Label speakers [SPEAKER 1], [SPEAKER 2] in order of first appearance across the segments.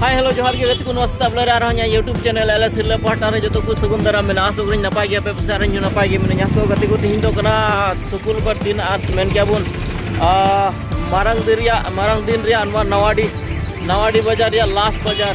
[SPEAKER 1] ᱦᱟᱭ hello ᱡᱚᱦᱟᱨ ᱜᱮ ᱜᱟᱛᱮ ᱠᱚ ᱱᱚᱣᱟ ᱥᱮᱛᱟᱜ ᱵᱮᱞᱟ ᱨᱮ ᱟᱨᱦᱚᱸ ᱤᱧᱟᱹᱜ ᱭᱩᱴᱩᱵᱽ ᱪᱮᱱᱮᱞ ᱮᱞ ᱮᱥ ᱦᱤᱨᱞᱟᱹ ᱯᱟᱦᱴᱟ ᱨᱮ ᱡᱚᱛᱚ ᱠᱚ ᱥᱟᱹᱜᱩᱱ ᱫᱟᱨᱟᱢ ᱢᱮᱱᱟᱜᱼᱟ ᱟᱥᱚᱜ ᱠᱟᱹᱱᱟᱹᱧ ᱱᱟᱯᱟᱭ ᱜᱮ ᱟᱯᱮ ᱯᱟᱥᱮ ᱟᱨ ᱤᱧ ᱦᱚᱸ ᱱᱟᱯᱟᱭ ᱜᱮ ᱢᱤᱱᱟᱹᱧᱟ ᱛᱚ ᱜᱟᱛᱮ ᱠᱚ ᱛᱮᱦᱮᱧ ᱫᱚ ᱠᱟᱱᱟ ᱥᱩᱠᱩᱞ ᱵᱟᱨ ᱫᱤᱱ ᱟᱨ ᱢᱮᱱ ᱜᱮᱭᱟ ᱵᱚᱱ ᱢᱟᱨᱟᱝ ᱫᱤᱱ ᱨᱮᱭᱟᱜ ᱢᱟᱨᱟᱝ ᱫᱤᱱ ᱨᱮᱭᱟᱜ ᱱᱚᱣᱟ ᱱᱟᱣᱟᱰᱤ ᱱᱟᱣᱟᱰᱤ ᱵᱟᱡᱟᱨ ᱨᱮᱭᱟᱜ ᱞᱟᱥᱴ ᱵᱟᱡᱟᱨ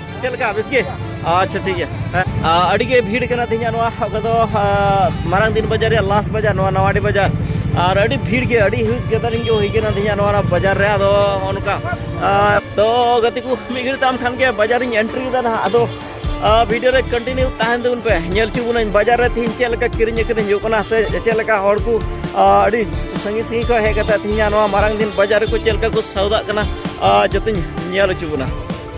[SPEAKER 1] ᱪᱮᱫ ᱞᱮᱠᱟ ᱵᱮᱥ ᱜᱮ ᱟᱪᱪᱷᱟ ᱴᱷᱤᱠ ᱜᱮᱭᱟ ᱟᱹᱰᱤ ᱜᱮ ᱵᱷᱤᱲ ᱠᱟᱱᱟ ᱛᱮᱦᱮᱧ ᱱᱚᱣᱟ ᱚᱠᱟ ᱫᱚ ᱢᱟᱨᱟᱝ ᱫᱤᱱ ᱵᱟᱡᱟᱨ ᱨᱮᱭᱟᱜ ᱞᱟᱥ ᱵᱟᱡᱟᱨ ᱱᱚᱣᱟ ᱱᱟᱣᱟᱰᱤ ᱵᱟᱡᱟᱨ ᱟᱨ ᱟᱹᱰᱤ ᱵᱷᱤᱲ ᱜᱮ ᱟᱹᱰᱤ ᱦᱤᱭᱩᱡᱽ ᱜᱮᱫᱟᱨᱤᱝ ᱜᱮ ᱦᱩᱭ ᱠᱟᱱᱟ ᱛᱮᱦᱮᱧ ᱱᱚᱣᱟ ᱵᱟᱡᱟᱨ ᱨᱮ ᱟᱫᱚ ᱚᱱᱠᱟ ᱛᱚ ᱜᱟᱛᱮ ᱠᱚ ᱢᱤᱫ ᱜᱷᱟᱹᱲᱤᱡ ᱛᱟᱢ ᱠᱷᱟᱱ ᱜᱮ ᱵᱟᱡᱟᱨᱤᱧ ᱮᱱᱴᱨᱤ ᱠᱮᱫᱟ ᱱᱟᱦᱟᱜ ᱟᱫᱚ ᱵᱷᱤᱰᱤᱭᱳ ᱨᱮ ᱠᱚᱱᱴᱤᱱᱤᱭᱩ ᱛᱟᱦᱮᱱ ᱛᱟᱵᱚᱱ ᱯᱮ ᱧᱮᱞ ᱦᱚᱪᱚ ᱵᱚᱱᱟᱹᱧ ᱵᱟᱡᱟᱨ ᱨᱮ ᱛᱮᱦᱮᱧ ᱪᱮᱫ ᱞᱮᱠᱟ ᱠᱤᱨᱤᱧ ᱟᱹᱠᱷᱨᱤᱧ ᱦᱩᱭᱩᱜ ᱠᱟᱱᱟ ᱥᱮ ᱪᱮᱫ ᱞᱮᱠᱟ ᱦᱚᱲ ᱠᱚ ᱟᱹᱰᱤ ᱥᱟᱺᱜᱤᱧ ᱥᱟᱺᱜᱤᱧ ᱠᱷᱚᱱ ᱦᱮᱡ ᱠᱟᱛᱮ ᱛᱮᱦᱮᱧ ᱱᱚᱣᱟ ᱢᱟᱨᱟᱝ ᱫᱤᱱ ᱵᱟᱡᱟᱨ ᱨᱮᱠᱚ ᱪᱮᱫ ᱞᱮᱠᱟ ᱠᱚ ᱥᱟᱣᱫᱟᱜ ᱠᱟᱱᱟ ᱡᱚᱛᱚᱧ ᱧᱮᱞ ᱦᱚᱪᱚ ᱵᱚᱱᱟ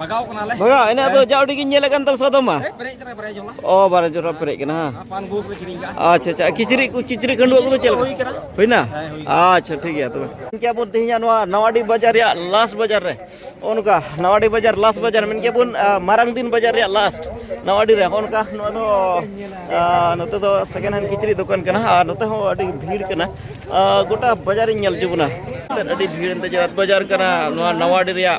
[SPEAKER 1] ᱵᱟᱜᱟᱣ ᱠᱟᱱᱟᱞᱮ ᱵᱟᱜᱟᱣ ᱮᱱᱟ ᱫᱚ ᱡᱟ ᱩᱰᱤ ᱜᱤᱧ ᱧᱮᱞ ᱠᱟᱱ ᱛᱟᱢ ᱥᱟᱫᱚᱢ ᱢᱟ ᱯᱮᱨᱮᱡ ᱛᱮ ᱵᱟᱨᱭᱟ ᱡᱚᱞᱟ ᱚ ᱵᱟᱨᱭᱟ ᱡᱚᱞᱟ ᱯᱮᱨᱮᱡ ᱠᱟᱱᱟ ᱯᱟᱱ ᱜᱩ ᱠᱚ ᱠᱤᱨᱤᱧ ᱠᱟᱜ ᱟᱪᱪᱷᱟ ᱟᱪᱪᱷᱟ ᱠᱤᱪᱨᱤ ᱠᱚ ᱠᱤᱪᱨᱤ ᱠᱷᱟᱹᱰᱩ ᱠᱚ ᱪᱮᱫ ᱞᱮᱠᱟ ᱦᱩᱭᱱᱟ ᱟᱪᱪᱷᱟ ᱴᱷᱤᱠ ᱜᱮᱭᱟ ᱛᱚᱵᱮ ᱤᱧ ᱠᱮ ᱵᱚᱱ ᱛᱮᱦᱮᱧ ᱱᱚᱣᱟ ᱱᱟᱣᱟᱰᱤ ᱵᱟᱡᱟᱨ ᱨᱮᱭᱟᱜ ᱞᱟᱥ ᱵᱟᱡᱟᱨ ᱨᱮ ᱚᱱᱠᱟ ᱱᱟᱣᱟᱰᱤ ᱵᱟᱡᱟᱨ ᱞᱟᱥ ᱵᱟᱡᱟᱨ ᱢᱮᱱ ᱠᱮ ᱵᱚᱱ ᱢᱟᱨᱟᱝ ᱫᱤᱱ ᱵᱟᱡᱟᱨ ᱨᱮᱭᱟᱜ ᱞᱟᱥᱴ ᱱᱟᱣᱟᱰᱤ ᱨᱮ ᱚᱱᱠᱟ ᱱᱚᱣᱟ ᱫᱚ ᱱᱚᱛᱮ ᱫᱚ ᱥᱮᱠᱮᱱᱰ ᱦᱮᱱᱰ ᱠᱤᱪᱨᱤ ᱫᱚᱠᱟᱱ ᱠᱟᱱᱟ ᱟᱨ ᱱᱚᱛᱮ ᱦᱚᱸ ᱟᱹᱰᱤ ᱵᱷᱤᱲ ᱠᱟᱱᱟ ᱜᱚᱴᱟ ᱵᱟᱡᱟᱨᱤᱧ ᱧᱮᱞ ᱡᱩᱵᱚᱱᱟ ᱟᱹᱰᱤ ᱵᱷᱤᱲ ᱮᱱᱛᱮ ᱡᱟᱛ ᱵᱟᱡᱟᱨ ᱠᱟᱱᱟ ᱱᱚᱣᱟ ᱱᱟᱣᱟᱰᱤ ᱨᱮᱭᱟᱜ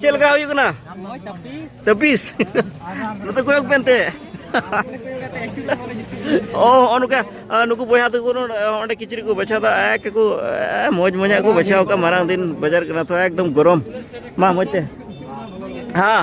[SPEAKER 1] ᱪᱮᱫ ᱞᱮᱠᱟ ᱦᱩᱭᱩᱜ ᱠᱟᱱᱟ ᱛᱟᱹᱯᱤᱥ ᱱᱚᱛᱮ ᱠᱚᱭᱚᱜ ᱯᱮᱱᱛᱮ ᱚ ᱦᱚᱸᱜᱼᱚ ᱱᱚᱝᱠᱟ ᱱᱩᱠᱩ ᱵᱚᱭᱦᱟ ᱛᱟᱠᱚ ᱚᱸᱰᱮ ᱠᱤᱪᱨᱤᱡ ᱠᱚ ᱵᱟᱪᱷᱟᱣ ᱫᱟ ᱮᱠ ᱠᱚ ᱢᱚᱡᱽ ᱢᱚᱡᱟᱜ ᱠᱚ ᱵᱟᱪᱷᱟᱣ ᱠᱟᱜ ᱢᱟᱨᱟᱝ ᱫᱤᱱ ᱵᱟᱡᱟᱨ ᱠᱟᱱᱟ ᱛᱚ ᱮᱠᱫᱚᱢ ᱜᱚᱨᱚᱢ ᱢᱟ ᱢᱚᱡᱽ ᱛᱮ ᱦᱮᱸ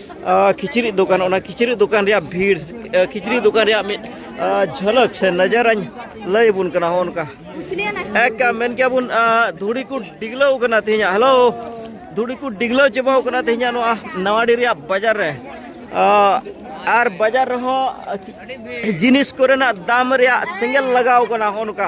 [SPEAKER 1] ᱠᱤᱪᱨᱤᱡ ᱫᱚᱠᱟᱱ ᱚᱱᱟ ᱠᱤᱪᱨᱤᱡ ᱫᱚᱠᱟᱱ ᱨᱮᱭᱟᱜ ᱵᱷᱤᱲ ᱠᱤᱪᱨᱤᱡ ᱫᱚᱠᱟᱱ ᱨᱮᱭᱟᱜ ᱢᱤᱫ ᱡᱷᱟᱞᱟᱠ ᱥᱮ ᱱᱟᱡᱟᱨᱟᱧ ᱞᱟᱹᱭ ᱟᱵᱚᱱ ᱠᱟᱱᱟ ᱦᱚᱸ ᱚᱱᱠᱟ ᱮᱠ ᱢᱮᱱ ᱠᱮᱭᱟ ᱵᱚᱱ ᱫᱷᱩᱲᱤ ᱠᱚ ᱰᱤᱜᱽᱞᱟᱹᱣ ᱠᱟᱱᱟ ᱛᱮᱦᱮᱧᱟᱜ ᱦᱮᱞᱳ ᱫᱷᱩᱲᱤ ᱠᱚ ᱰᱤᱜᱽᱞᱟᱹᱣ ᱪᱟᱵᱟᱣ ᱠᱟᱱᱟ ᱛᱮᱦᱮᱧᱟᱜ ᱱᱚᱣᱟ ᱱᱟᱣᱟᱰᱤ ᱨᱮᱭᱟᱜ ᱵᱟᱡᱟᱨ ᱨᱮ ᱟᱨ ᱵᱟᱡᱟᱨ ᱨᱮᱦᱚᱸ ᱡᱤᱱᱤᱥ ᱠᱚᱨᱮᱱᱟᱜ ᱫᱟᱢ ᱨᱮᱭᱟᱜ ᱥᱮᱸᱜᱮᱞ ᱞᱟᱜᱟᱣ ᱠᱟᱱᱟ ᱦᱚᱸ ᱱᱚᱝᱠᱟ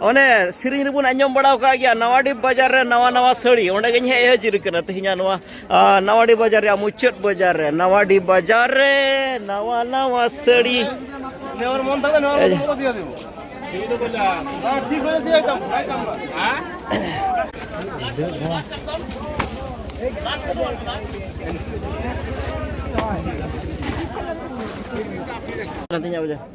[SPEAKER 1] ᱚᱱᱮ ᱥᱮᱨᱮᱧ ᱨᱮᱵᱚᱱ ᱟᱸᱡᱚᱢ ᱵᱟᱲᱟ ᱟᱠᱟᱫ ᱜᱮᱭᱟ ᱱᱟᱣᱟᱰᱤ ᱵᱟᱡᱟᱨ ᱨᱮ ᱱᱟᱣᱟ ᱱᱟᱣᱟ ᱥᱟᱹᱲᱤ ᱚᱸᱰᱮ ᱜᱮᱧ ᱦᱮᱡ ᱦᱟᱹᱡᱤᱨ ᱠᱟᱱᱟ ᱛᱮᱦᱮᱧᱟᱜ ᱱᱚᱣᱟ ᱱᱟᱣᱟᱰᱤ ᱵᱟᱡᱟᱨ ᱨᱮᱭᱟᱜ ᱢᱩᱪᱟᱹᱫ ᱵᱟᱡᱟᱨ ᱨᱮ ᱱᱟᱣᱟᱰᱤ ᱵᱟᱡᱟᱨ ᱨᱮ ᱱᱟᱣᱟ ᱱᱟᱣᱟ ᱥᱟᱹᱲᱤ Nantinya aja.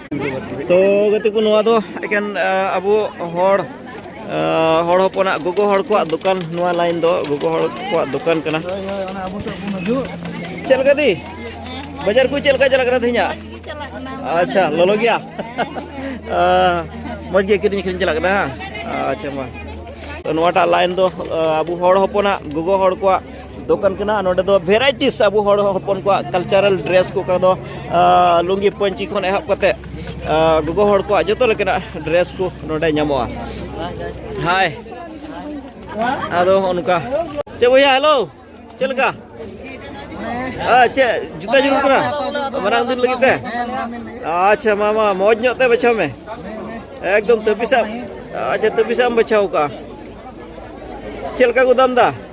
[SPEAKER 1] ᱛᱚ ᱜᱟᱛᱮ ᱠᱚ ᱱᱚᱣᱟ ᱫᱚ ᱮᱠᱮᱱ ᱟᱵᱚ ᱦᱚᱲ ᱦᱚᱲ ᱦᱚᱯᱚᱱᱟᱜ ᱜᱚᱜᱚ ᱦᱚᱲ ᱠᱚᱣᱟᱜ ᱫᱚᱠᱟᱱ ᱱᱚᱣᱟ ᱞᱟᱭᱤᱱ ᱫᱚ ᱜᱚᱜᱚ ᱦᱚᱲ ᱠᱚᱣᱟᱜ ᱫᱚᱠᱟᱱ ᱠᱟᱱᱟ ᱪᱮᱫ ᱞᱮᱠᱟ ᱫᱤ ᱵᱟᱡᱟᱨ ᱠᱚ ᱪᱮᱫ ᱞᱮᱠᱟ ᱪᱟᱞᱟᱜ ᱠᱟᱱᱟ ᱛᱮᱦᱮᱧᱟᱜ ᱟᱪᱪᱷᱟ ᱞᱚᱞᱚ ᱜᱮᱭᱟ ᱢᱚᱡᱽ ᱜᱮ ᱠᱤᱨᱤᱧ ᱟᱹᱠᱷᱨᱤᱧ ᱪᱟᱞᱟᱜ ᱠᱟᱱᱟ ᱟᱪᱪᱷᱟ ᱢᱟ ᱱᱚᱣᱟᱴᱟᱜ ᱞᱟᱭᱤᱱ ᱫᱚ ᱟᱵᱚ ᱦᱚᱲ ᱦᱚᱯᱚᱱᱟᱜ ᱜᱚᱜᱚ ᱦᱚᱲ ᱠᱚᱣᱟᱜ ᱫᱚᱠᱟᱱ ᱠᱟᱱᱟ ᱱᱚᱰᱮ ᱫᱚ ᱵᱷᱮᱨᱟᱭᱴᱤᱥ ᱟᱵᱚ ᱦᱚᱲ ᱦᱚᱯᱚᱱ ᱠᱚᱣᱟᱜ ᱠᱟᱞᱪᱟᱨᱟᱞ ᱰᱨᱮᱥ ᱠᱚ ᱠᱟᱫᱚ ᱞᱩᱝᱜᱤ ᱯᱟᱹᱧᱪᱤ ᱠᱷᱚᱱ ᱮᱦᱚᱵ ᱠᱟᱛᱮ ᱜᱚᱜᱚ ᱦᱚᱲ ᱠᱚᱣᱟᱜ ᱡᱚᱛᱚ ᱞᱮᱠᱟᱱᱟᱜ ᱰᱨᱮᱥ ᱠᱚ ᱱᱚᱰᱮ ᱧᱟᱢᱚᱜᱼᱟ ᱦᱟᱭ ᱟᱫᱚ ᱚᱱᱠᱟ ᱪᱮ ᱵᱚᱭᱦᱟ ᱦᱮᱞᱳ ᱪᱮᱫ ᱞᱮᱠᱟ ᱪᱮ ᱡᱩᱛᱟᱹ ᱡᱩᱞᱩᱜ ᱠᱟᱱᱟ ᱢᱟᱨᱟᱝ ᱫᱤᱱ ᱞᱟᱹᱜᱤᱫ ᱛᱮ ᱟᱪᱪᱷᱟ ᱢᱟ ᱢᱟ ᱢᱚᱡᱽ ᱧᱚᱜ ᱛᱮ ᱵᱟᱪᱷᱟᱣ ᱢᱮ ᱮᱠᱫᱚᱢ ᱛᱟᱹᱯᱤᱥᱟᱜ ᱟᱪᱪᱷᱟ ᱛᱟᱹᱯᱤᱥᱟᱜ ᱮᱢ ᱵᱟᱪᱷᱟᱣ ᱠᱟᱜᱼᱟ ᱪᱮᱫ ᱞᱮᱠᱟ ᱠᱚ ᱫᱟᱢ ᱮᱫᱟ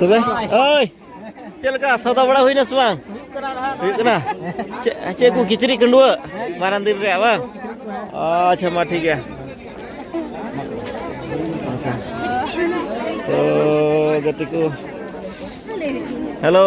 [SPEAKER 1] ᱛᱚᱵᱮ ᱳᱭ ᱪᱮᱫ ᱞᱮᱠᱟ ᱥᱚᱫᱟ ᱵᱟᱲᱟ ᱦᱩᱭᱱᱟ ᱥᱮ ᱵᱟᱝ ᱦᱩᱭᱩᱜ ᱠᱟᱱᱟ ᱪᱮᱫ ᱠᱚ ᱠᱤᱪᱨᱤᱡ ᱠᱟᱺᱰᱩᱣᱟᱹ ᱢᱟᱨᱟᱝ ᱫᱤᱱ ᱨᱮᱭᱟᱜ ᱵᱟᱝ ᱟᱪᱪᱷᱟ ᱢᱟ ᱴᱷᱤᱠ ᱜᱮᱭᱟ ᱛᱚ ᱜᱟᱛᱮ ᱠᱚ ᱦᱮᱞᱳ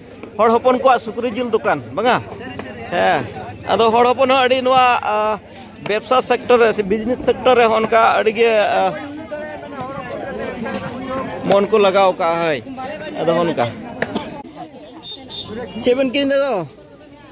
[SPEAKER 1] ᱦᱚᱲ ᱦᱚᱯᱚᱱ ᱠᱚᱣᱟᱜ ᱥᱩᱠᱨᱤ ᱡᱤᱞ ᱫᱚᱠᱟᱱ ᱵᱟᱝᱟ ᱦᱮᱸ ᱟᱫᱚ ᱦᱚᱲ ᱦᱚᱯᱚᱱ ᱦᱚᱸ ᱟᱹᱰᱤ ᱱᱚᱣᱟ ᱵᱮᱵᱽᱥᱟ ᱥᱮᱠᱴᱚᱨ ᱨᱮ ᱥᱮ ᱵᱤᱡᱽᱱᱮᱥ ᱥᱮᱠᱴᱚᱨ ᱨᱮ ᱦᱚᱸ ᱚᱱᱠᱟ ᱟᱹᱰᱤ ᱜᱮ ᱢᱚᱱ ᱠᱚ ᱞᱟᱜᱟᱣ ᱠᱟᱜᱼᱟ ᱦᱳᱭ ᱟᱫᱚ ᱚᱱᱠᱟ ᱪᱮᱫ ᱵᱮᱱ ᱠᱤᱨᱤᱧ ᱫᱟ